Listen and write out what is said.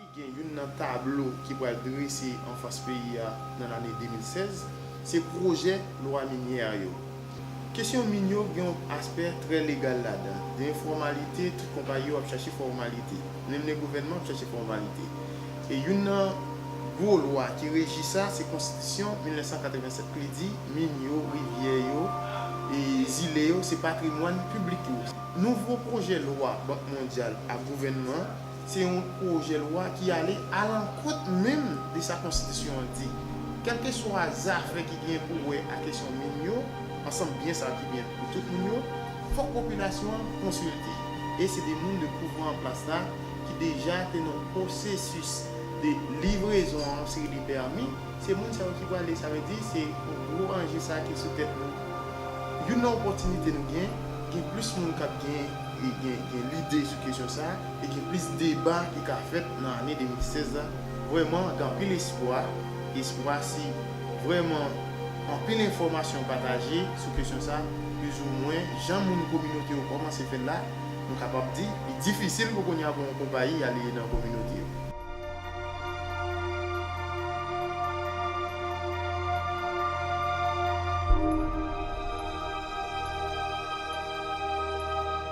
Li gen youn nan tablo ki pral drese anfas peyi a nan lane 2016, se pwojè lwa minyè a yo. Kesyon min yo gen yon aspè trè legal ladan, gen enfòmalite, tout konpayi yo ap chache fòmalite, menm le gouvènman ap chache fòmalite. E youn nan gwo lwa ki reji sa, se konstitisyon 1987 k li di min yo, rivyè yo, e zile yo se patrimwàn piblik yo. Nouvo pwojè lwa Bank Mondyal ak gouvènman. Se yon pwojè lwa ki ale alankont menm de sa konstitisyon an di. Kèlkeswa zafè ki gen pou wè ak kesyon min yo, ansanm byen sa ki byen pou tout moun yo, fòk popilasyon an konsilte. E se de moun de pouvwa an plas la ki deja te nan pwosesis de livrezon an seri de pèmi, se moun sa yo ki prale, sa vle di se gwo anje sa ki sou tèt nou. Youn nan opòtinite nou gen, gen plis moun k ap gen lide sou kesyon sa, e gen plis deba ki ka fèt nan ane 2016 la vrèman gen anpil espwa espwa si vrèman anpil enfòmasyon pataje sou kesyon sa plizoumwen jan moun kominote yo kòmanse fèl la nou kapab di li difisil pou kounya pou yon konpayi ale nan kominote yo.